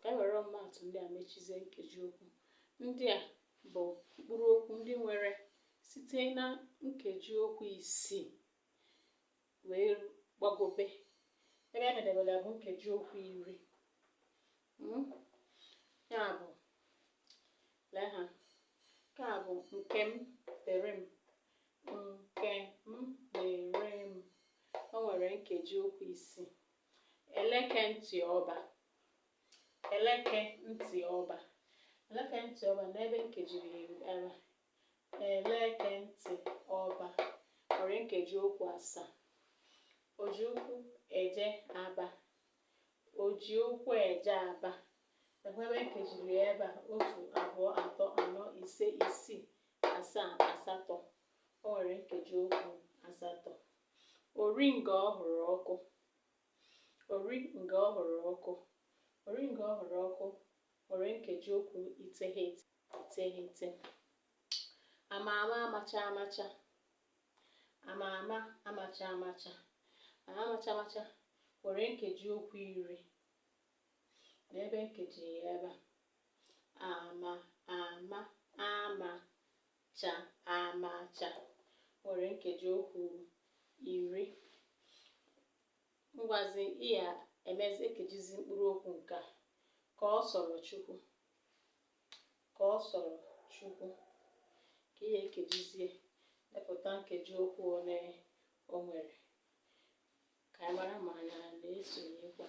Ka anyị were ọmụmaatụ ndị a mechizie nkeji okwu. Ndị a bụ mkpụrụ okwu ndị nwere site na nkeji okwu isii wee gbagobe ebe anyị medebere ya bụ nkeji okwu iri hmm? ya bụ lee ha nke a bụ Nkemdịrịm Nkemdịrịm o nwere nkeji okwu isii eleke ntị ọba Eleke ntị ọba. Eleke ntị ọba lee ebe m kejiri ya ebe a. Eleke ntị ọba nwere nkeji okwu asaa. O ji ụkwụ eje Aba. O ji ụkwụ eje Aba. Lee ebe m kejiri ya ebe a otu abụọ atọ anọ ise isii asaa asatọ. O nwere nkeji okwu asatọ. Ori nga ọ hụrụ ọkụ. Ori nga ọ hụrụ ọkụ. Ori nga ọ hụrụ ọkụ nwere nkejiokwu iteghete iteghete. Ama ama amacha amacha. Ama ama amacha amacha. Ama amacha amacha nwere nkejiokwu iri. Lee ebe m kejiri ya ebe a. Ama ama ama cha amacha nwere nkeji okwu iri ngwazi ị ya-emezi ekejizi mkpụrụ okwu nke a ka ọ sọrọ Chukwu ka ọ sọrọ Chukwu ka ị ya-ekejizie depụta nkeji okwu ole o nwere ka anyị mara ma anyị na-esonyekwa